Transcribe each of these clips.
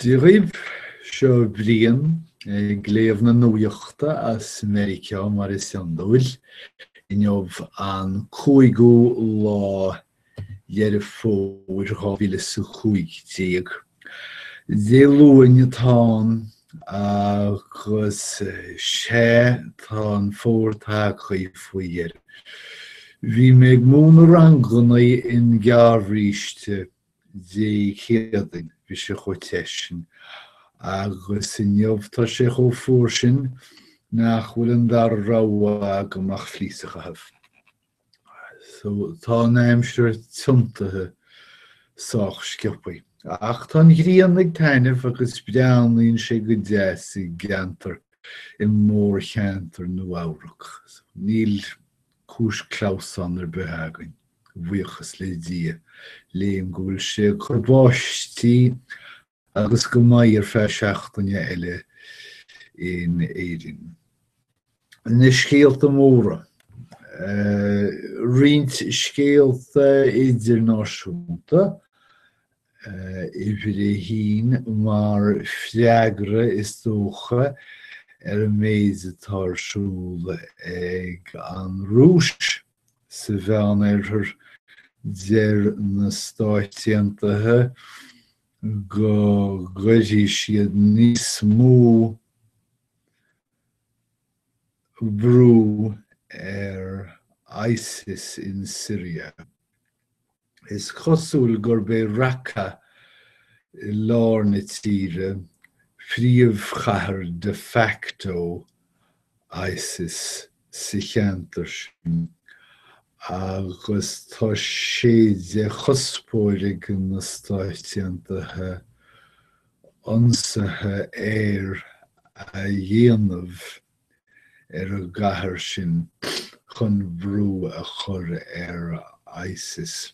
Dia dhaoibh seo Brian ag léamh na nuachta as Meiriceá mar is iondúil, inniu an cúigiú lá Dheireadh Fómhair 2015. Dé Luain atá ann. Agus sea, tá an fómhar tagtha faoi dheireadh. Bhí mé ag múineadh ranganna i ngearrbhríste Dé Céadaoin, bhí sé chomh te sin, agus inniu tá sé chomh fuar sin nach bhfuil an dara rogha agam ach fleece a chaitheamh. so, tá an aimsir tiontaithe sách sciopaidh. Ach tá an ghrian ag taitneamh agus breathnaíonn sé go deas i gceantar, i mórcheantar Nua-Eabhrac. Níl cúis clamhsáin ar bith againn, a bhuíochas le Dia, léim go bhfuil sé ag cur báistí agus go mbeidh ar feadh seachtaine eile in Éirinn. Na scéalta móra. Roinnt scéalta idirnáisiúnta, uimhir a haon, mar freagra is dócha ar an méid atá ar siúl ag an Rúis sa Mheánoirthear. Deir na Stáit Aontaithe go gcuirfidh siad níos mó brú ar Isis in Siria. Is cosúil gurb é Raqqa i lár na tíre príomhchathair de facto Isis sa cheantar sin agus tá sé de chuspóir ag na Stáit Aontaithe ionsaithe aeir a dhéanamh ar an gcathair sin chun brú a chur ar isis.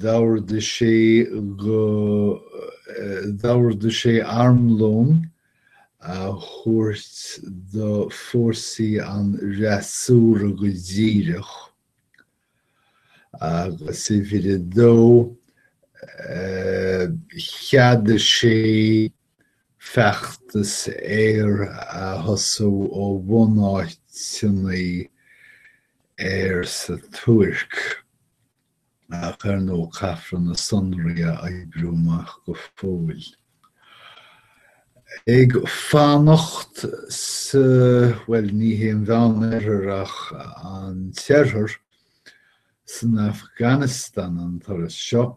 D'ordaigh sé go, d'ordaigh sé armlón a thabhairt do fórsaí an fhreasúra go díreach, agus uimhir a dó, cheadaigh sé feachtas air a thosú ó bhunáiteanna aeir sa Tuirc, ach ar ndóigh caithfear na sonraí a oibriú amach go fóill. Ag fanacht sa, bhuel, ní hé an Mheán-Oirthear ach an tIarthar, san Afganastáin an turas seo,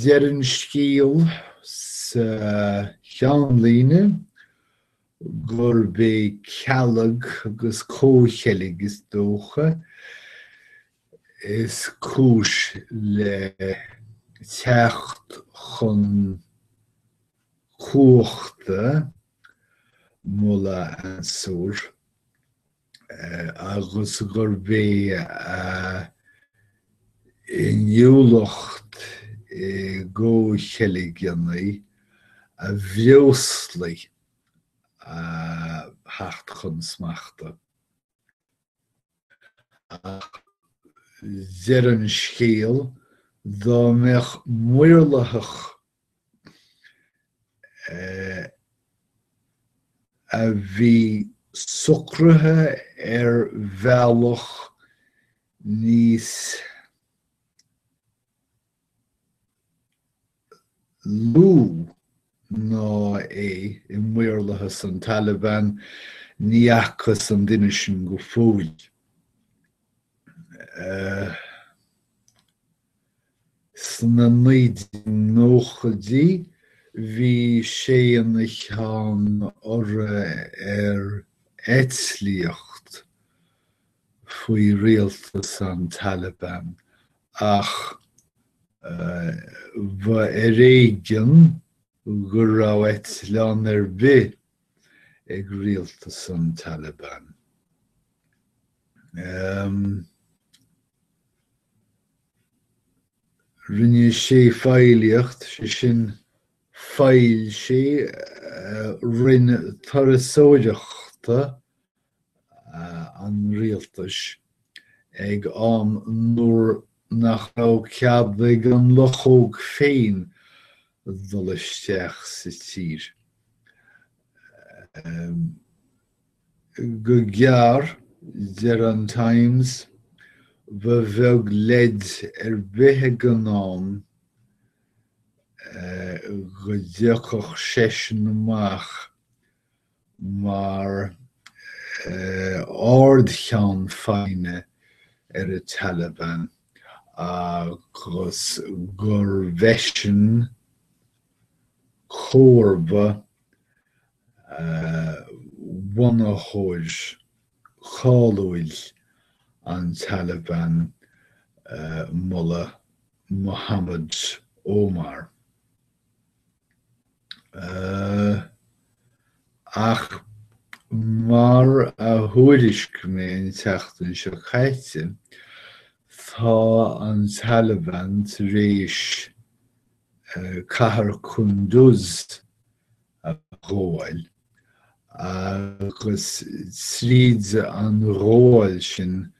Deir an scéal sa cheannlíne gurb é cealg agus comhcheilg, is dócha, is cúis le teacht chun cumhachta Mullah Mansour. agus gurb í a inniúlacht i gcomhcheilgeannaí a bhreoslaigh a theacht chun smachta. Ach deir an scéal dá mbeadh maorlathach a bhí sonraithe ar bhealach níos lú ná é i maorlathas an Taliban, ní fhacthas an duine sin go fóill. Sna 1990idí bhí sé ina cheann urra ar eitlíocht faoi rialtas an Taliban ach ba ar éigean go raibh eitleán ar bith ag rialtas an Taliban. Rinne sé feighlíocht, sé sin, feighil sé Roinn Turasóireachta an Rialtais ag am nuair nach raibh cead ag an luchóg féin dul isteach sa tír. Go gearr, deir an Times, ba bheag leid ar bith ag an am go dtiocfadh seisean amach mar ardcheann feadhna ar an Taliban agus gurbh eisean comharba bhunaitheoir cáiliúil an Taliban Mullah Mohammad Omar. Ach mar a thuairisc mé an tseachtain seo caite, tá an Taliban tar éis cathair Kunduz a ghabháil, agus tríd an ghabháil sin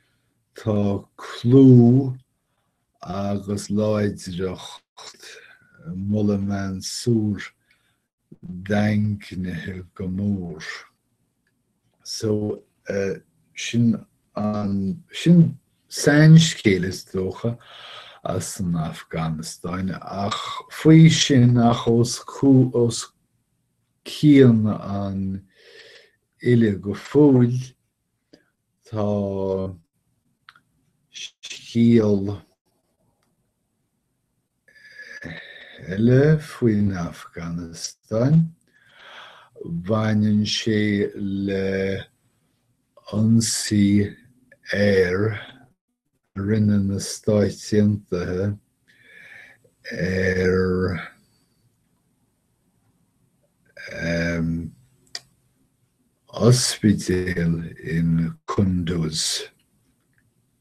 tá clú agus láidreacht Mullah Mansour daingnithe go mór. So, sin an, sin sainscéal, is dócha, as an Afganastáin, ach faoi sin, ach os cionn an uile go fóill, tá scéal eile faoin Afganastáin. Baineann sé le hionsaí aeir a rinne na Stáit Aontaithe ar ospidéal in Kunduz,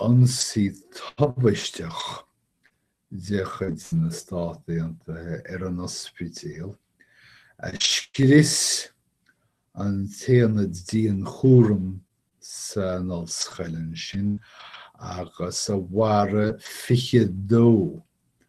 ionsaí tubaisteach de chuid na Stát Aontaithe ar an ospidéal a scrios an t-aonad dianchúraim san ollscoil ansin agus a mharaigh 22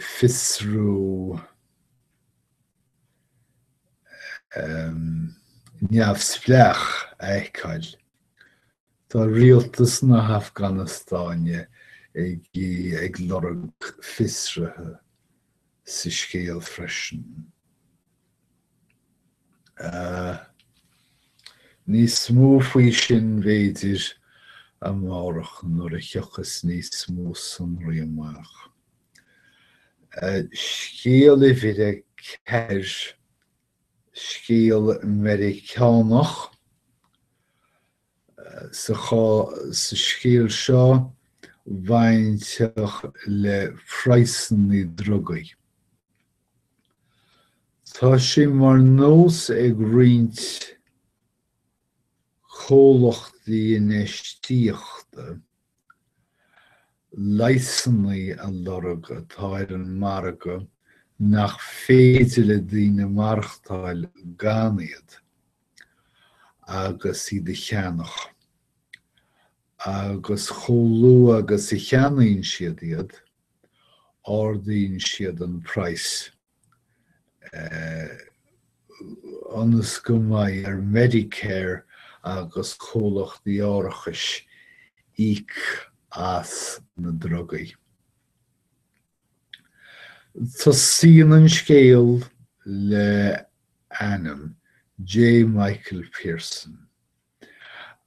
fiosrú neamhspleách a fheiceáil. Tá rialtas na hAfganastáine ag ag lorg fiosraithe sa scéal freisin. Níos mó faoi sin, b'fhéidir, amárach nuair a thiocfas níos mó sonraí amach. Scéal uimhir a ceathair, scéal Meiriceánach. Sa scéal seo, bainteach le praghsanna drugaí. Tá sé mar nós ag roinnt comhlachtaí infheistíochta leigheasanna a lorg atá ar an margadh nach féidir le daoine maireachtáil gan iad agus iad a cheannach, agus chomh luath agus a cheannaíonn siad iad, ardaíonn siad an praghas ionas go mbeidh ar Medicare agus comhlachtaí árachais íoc as na drugaí. Tosaíonn an scéal le ainm, J. Michael Pearson.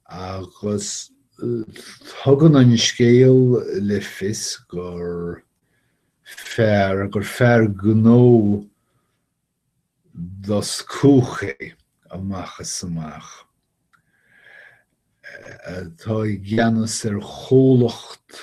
Agus tugann an scéal le fios gur fear, gur fear gnó doscúch é amach is amach, atá i gceannas ar chomhlacht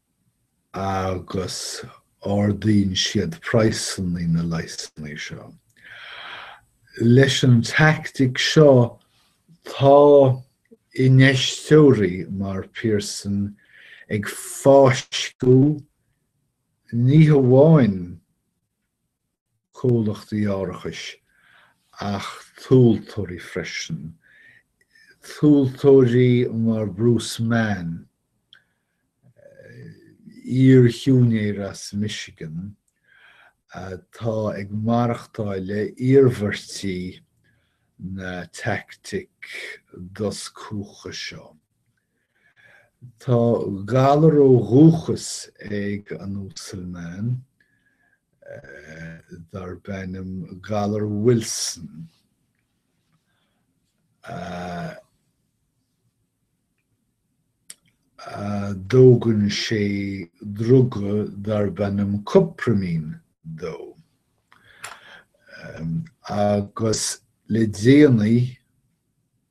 agus ardaíonn siad praghsanna na leigheasanna seo. Leis an teaictic seo, tá infheisteoirí mar Pearson ag fáisceadh ní hamháin comhlachtaí árachais ach tomhaltóirí freisin, tomhaltóirí mar Bruce Mann, iar-shiúinéir as Michigan atá ag maireachtáil le iarmhairtí na teaictic doscúcha seo. Tá galar ó dhúchas ag an Uasal Mann darb ainm galar Wilson. Tógann sé druga darb ainm Cuprimine dó, agus le déanaí,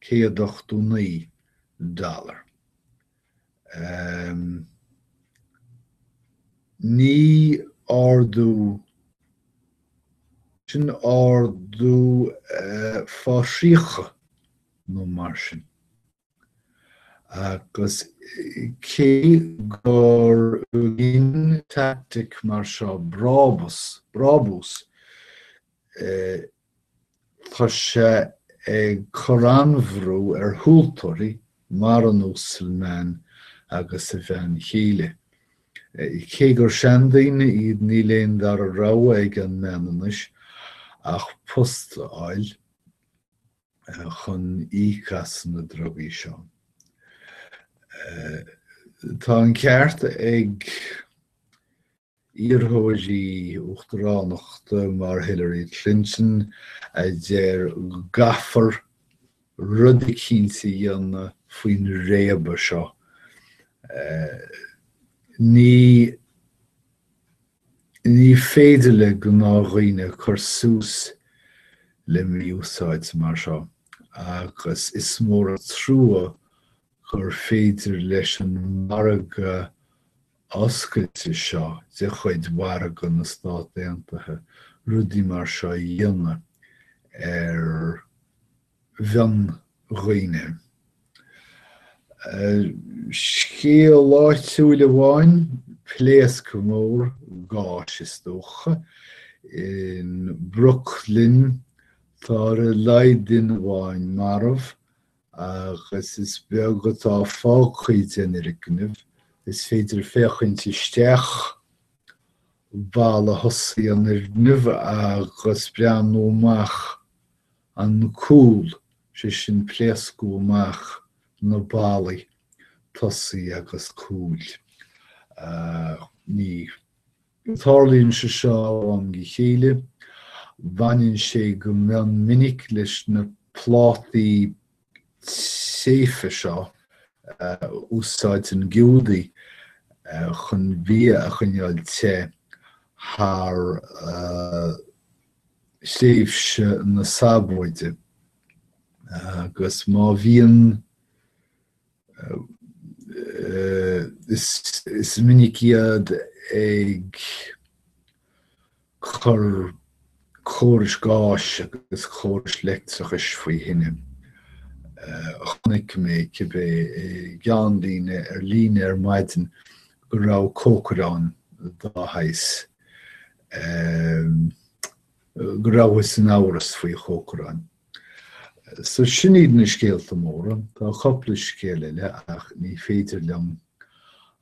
189 dollar. Ní ardú, sin ardú fá thríocha nó mar sin. Agus cé gur ghin teaictic mar seo brabús, Tá sé ag cur an-bhrú ar thomhaltóirí mar an Uasal Mann agus a bhean chéile. Cé gur seandaoine iad níl aon dara rogha ag an mbean anois ach post a fháil chun íoc as na drugaí seo. Tá an ceart ag. iarrthóirí uachtaránachta mar Hillary Clinton a deir go gcaithfear rud eicínt a dhéanamh faoin réabadh seo. Ní ní féidir le gnáthdhaoine cur suas le mí-úsáid mar seo agus is mór an trua gur féidir leis an margadh oscailte seo de chuid mhargadh na Stát Aontaithe rudaí mar seo a dhéanamh ar mhion-dhaoine. Scéal áitiúil amháin, pléasc mór gáis is dócha, in Brooklyn, tá ar a laghad duine amháin marbh agus is beag atá fágtha den fhoirgneamh, is féidir féachaint isteach balla thosaigh an fhoirgneamh agus breathnú amach an cúl, sé sin pléascadh amach na ballaí tosaigh agus cúil. Ní. Tarlaíonn sé seo ó am go chéile. Baineann sé go mion minic leis na plátaí téite seo a úsáideann Giúdaigh chun bia a choinneáil te thar thréimhse na Sabóide agus má bhíonn. Is minic iad ag cur córais gáis agus córais leictreachais faoi thine. Chonaic mé cibé i gceannlíne ar líne ar maidin go raibh cócaireán gáis. Go rabhthas in amhras faoi chócaireán. So sin iad na scéalta móra, tá cupla scéal eile ach ní féidir liom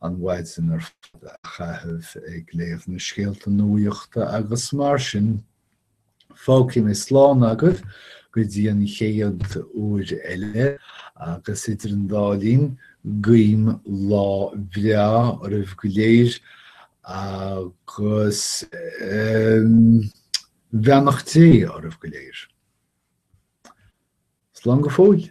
an mhaidin ar fad a chaitheamh ag léamh na scéalta nuaíochta agus mar sin fágfaidh mé slán agaibh go dtí an chéad uair eile agus idir an dá linn guím lá bhreá oraibh go léir agus um, Beannacht Dé oraibh go léir. Slán go fóill.